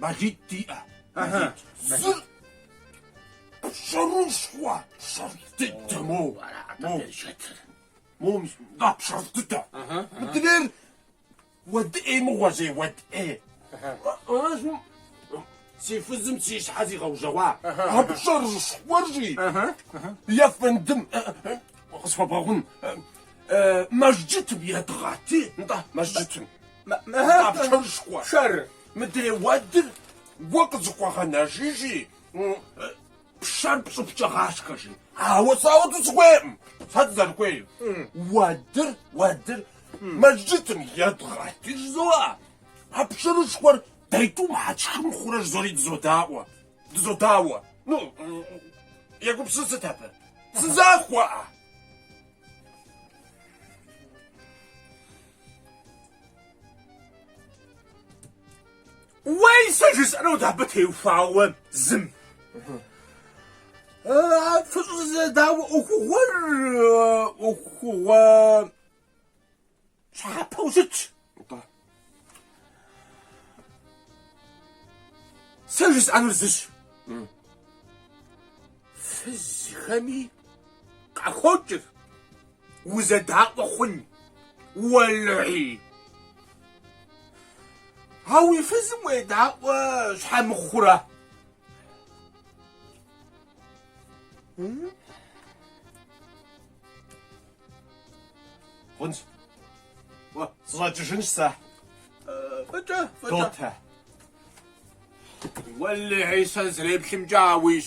Мэлитӏ диӏэ. Зыр пшэрышхуэ пшэр дыдэ мо. Мом да пшэр дыдэ. Мыдрер уэд ӏей мыгъуэ зей уэд ӏей. Аращи си фызым си щхьэ зигъэужьэгъуа а пшэрышхуэр жи ефэндым къысхуэбгъэгъун. Мэжджытым едгъэти, нтӏэ, мэжджытым. А пшэрышхуэр мыдрей уэдыр уэ къызыхуэгъэнэж жи, пшэр пщӏыпкӏэ гъашхэ жи. Ауэ сэ ауэду сыхуейкъым. Сэ сызэрыхуейр, уэдыр, уэдыр мэжджытым едгъэт жызоӏэ, а пшэрышхуэр дэ тӏум щхьэ тшхы мыхъурэ жызори дызодауэ, дызодауэ. Ну, егупсыс сыт абы? Сызахуэкъэ? Уей, сэ жысӏэнут абы теухуауэ зым. Фыщӏызэдауэ ӏуэхугъуэр ӏуэхугъуэ щхьэпэу щытщ. Сэ жысӏэнур зыщ. Фызхэми къахокӏыр. Узэдаӏуэ хъун, уэлэхьи. А уи фызым уедаӏуэ щхьэ мыхъурэ? Хъунщ. Уэ, сыщӏэкӏыжынщ сэ. Фӏыкӏэ, фӏыкӏэ. Дотэ. Уэлэхьи, сэ сызэреплъымкӏэ ауищ.